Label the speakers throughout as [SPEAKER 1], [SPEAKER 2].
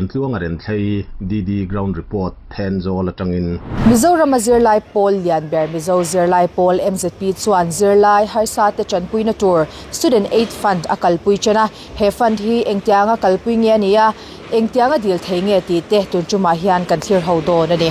[SPEAKER 1] Intluang a renthlei DD Ground Report then zawl atangin. Mizorama zirlai
[SPEAKER 2] pawl lianber Mizo zirlai pawl MZP chuan zirlai harsa te tanpuina tur Student Aid Fund a kalpui chen a, he fund hi engtianga kalpui nge a nia, engtianga dil thei nge tih te tuntumah hian kan thlirho dawn a ni.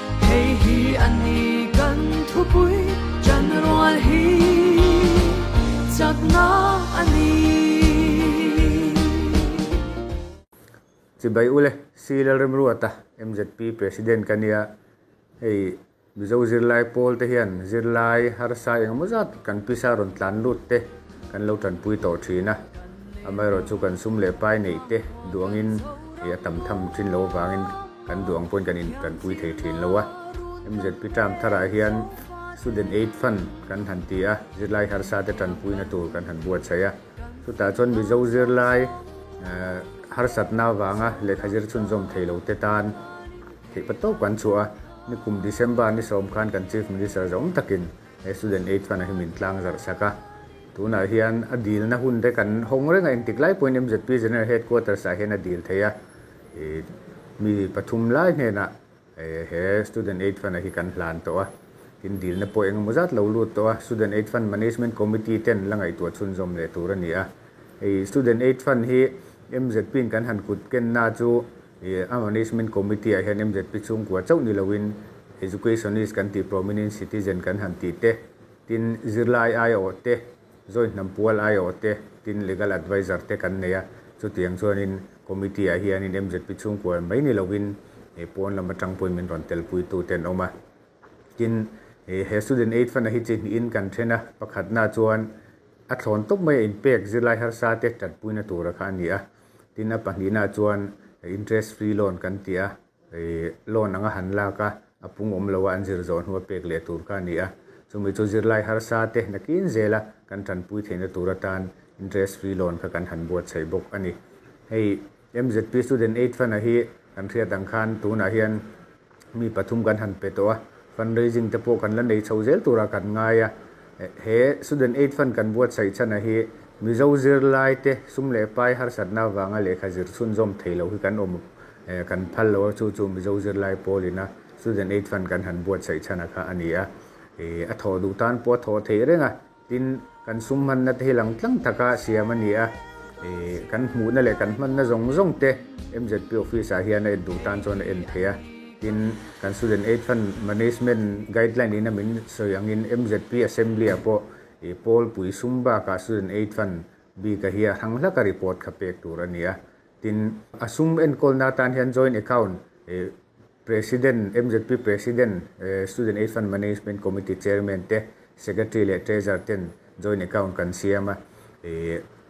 [SPEAKER 3] Hei hi a ni kan thupui tan rual hi chakna a ni.
[SPEAKER 4] Chibai ule, Sri Lalremruata, mzp President ka nia, hei Mizo zirlai pawl te hian zirlai harsa engemaw zat kan pisa rawn tlan lut te kan lo tanpui tawh thin a, amaherawhchu kan sum leh pai neih te duangin a tam tham thin lo avangin, Kan duh ang pawhin kan in kan pui thei thin lo a, MZP term thar ah hian Student Aid Fund kan han ti a, zirlai harsa te tanpuina tur kan han buatsaih a, chutah chuan Mizo zirlai harsatna avanga lehkha zir chhunzawm thei lo te tan theih pa tawp kan chhuah a, ni kum December ni sawm khan kan Chief Minister zawng takin he Student Aid Fund a hi min tlang zarh sak a, tunah hian a dilna hun te kan hawng reng a, engtik lai pawhin MZP General Headquarters ah hian a dil thei a. mi pathum lai hnenah he student aid fund-a hi kan hlan tawh a, tin dilna pawh eng emaw zat lo lut tawh a, student aid fund management committee ten la ngaihtuah chhunzawm leh tur a ni a, hei student aid fund hi MZP-in kan han kut kenna chu a management committee-ah hian MZP chhungkua chauh ni loin educationist kan tih prominent citizen kan han tih te, tin zirlai aia awh te, Zawihnam pual ai awh te tin legal advisor te kan nei a, chutiang chuanin committee ah hianin mzp chhungkual mai ni loin he pawn lam atang pawhin min rawn tel pui tu te an awm a, tin he student aid fund a hi chi hnihin kan then a, pakhatna chuan a thlawn tawp mai a in pek zirlai harsa te tat puina tura kha a ni a, tin a pahnihna chuan interest free loan kan ti a, Hei loan anga han lak a, a pung awm loh a an zir zawh hnu a pek leh tur kha a ni a. Chumi chu zirlai harsa te nakin zel a kan tanpui theihna tur atan interest free loan kha kan han buatsaih bawk a ni. Hei MZP Student Aid Fund-a hi kan hriat ang khan tunah hian mi pathum kan han pe tawh a, fundraising te pawh kan la nei chho zel turah kan ngai a. He Student Aid Fund kan buatsaih chhanah hi Mizo zirlai te sum leh pai harsatna avanga lehkha zir chhunzawm thei loh hi kan awm kan phal lo a, chu chu Mizo zirlai pawlin a Student Aid Fund kan han buatsaih chhana kha a ni a, ih a thawh duh tan pawh a thawh theih reng a, tin kan sum hmanna te hi lang tlang taka siam a ni a, ih kan hmuhna leh kan hmanna zawng zawng te MZP office-ah hian a en duh tan chuan a en thei a. Tin, kan Student Aid Fund Management Guideline in a min sawi angin MZP Assembly-ah pawh i Pawl pui sum bakah Student Aid Fund bik a hi a hrang hlaka report kha pek tur a ni a. Tin, a sum enkawlna atan hian Joint Account i President, MZP President, Student Aid Fund Management Committee Chairman te, Secretary leh Treasurer ten, Joint account kan siam a,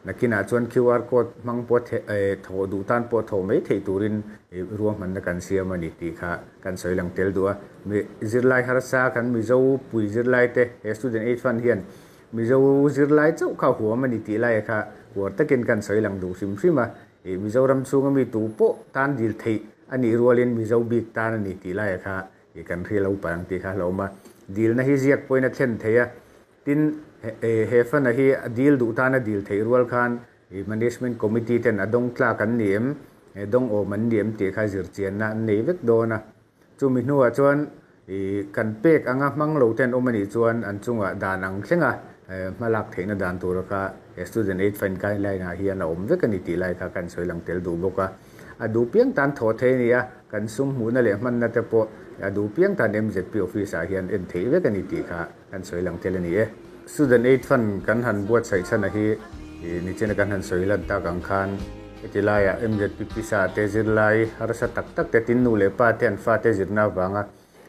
[SPEAKER 4] nakinah chuan QR code hmang pawh thawh duh tan pawh thawh mai theih turin ruahmanna kan siam a ni tih kha kan sawi lang tel duh a. Zirlai harsa kan Mizo pui zirlai te he Student Aid Fund hian Mizo zirlai chauh kha huam a ni tih laia kha huar takin kan sawi lang duh hrim hrim a, Mizoram chhunga mi tu pawh tan dil theih a nih rualin Mizo bik tan a ni tih laia kha kan hrial lo palang tih kha a hlawm a, dilna hi ziak pawhin a thlen thei a, Tin, he fan-a hi a dil duh tan a dil theih rual khan Management Committee ten a dawng tlak an ni em, dawng awm an ni em tih kha zir chianna an nei vek dawn a. Chumi hnuah chuan kan pek anga hmang lo ten awm a nih chuan an chungah dan ang thlenga hmalak theihna dan tura kha Student Aid Fund Guideline-ah hian a awm vek a ni tih lai kha ka insawi lang tel duh bawk a. A duh piang tan thawh thei a ni a, kan sum hmuhna leh hmanna te pawh a duh piang tan MZP Office-ah hian en theih vek a ni tih kha Kan sawi lang tel a ni e. Student Aid Fund kan han buatsaih chhan a hi nichen a kan han sawi lan tak ang khan heti laia MZPPsa te zirlai harsa tak tak te tin nu leh pa te an fate zirna avanga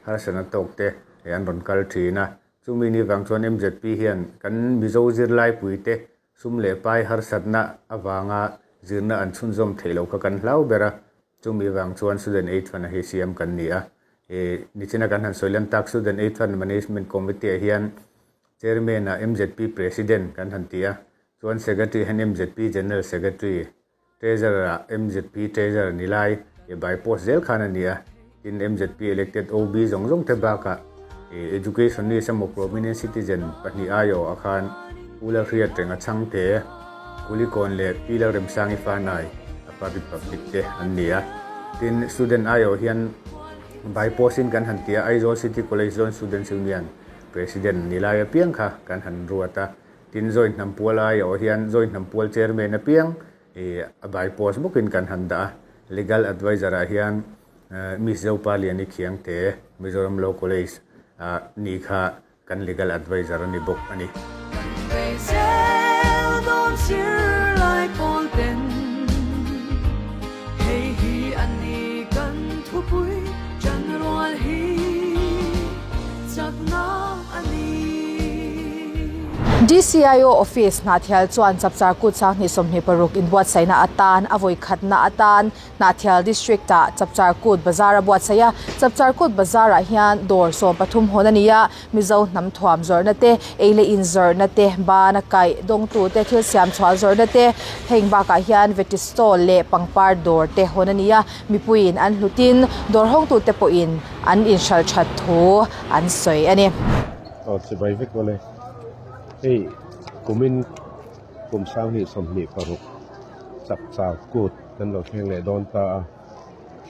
[SPEAKER 4] harsa na tawk te an rawn kal thin a. Chumi ni vang chuan MZP hian kan Mizo zirlaipuite Sum leh pai harsatna avanga zirna an chhunzawm theih lo kha kan hlau ber a, chumi vang chuan Student Aid Fund-a hi siam kan ni a. Nichina kan han sawi lan tak, Student Aid Fund Management Committee-ah hian Chairman-a MZP President kan han ti a, chuan Secretary-ah hian MZP General Secretary Treasurer a mzp treasurer ni lai e by post zel khan a ni a, tin mzp elected OB zawng zawng te baka e educationist emaw prominent citizen pahnih aiawh a khan Pula Hriatreng a changte, Kulikawn leh Pila Remsangi Fanai a public public te an ni a, tin student aiawh hian by post in kan han ti a, Aizawl City College Joint Students Union president ni lai apiang kha kan han ruat a. Tin, Zawihnampual a aiawh hian Zawihnampual Chairman apiang i a bai post bawkin kan han dah a, Legal Advisor ah hian Miss Zopaliani Khiangte, Mizoram Law College, a ni kha kan Legal Advisor a ni bawk a ni. Kan veizel
[SPEAKER 3] dawn zirlai pawl ten hei hi an ni kan thupui tanrual hi chakna. a ni.
[SPEAKER 2] DCIO office Hnahthial chuan chapchar kut sanghnih sawmhnih paruk inbuatsaihna atan a vawikhatna atan Hnahthial district ah chapchar kut bazar a buatsaih a. Chapchar kut bazar ah hian dawr sawm pathum hawn a ni a, Mizo hnam thuam zawrhna te, eile in zawrhna te, ban a kaih dawng tu te, thil siam chhuah zawrhna te, heng bak ah hian veggie stall leh pangpar dawr te hawn a ni a. Mipuiin an hlut in dawr hawngtu te pawhin an inhral that thu an sawi a ni. Aw chibai
[SPEAKER 1] vek maw le. Hei kumin kum sang hi sawmhnih paruk chak chak kut kan lo thleng leh dawn ta a.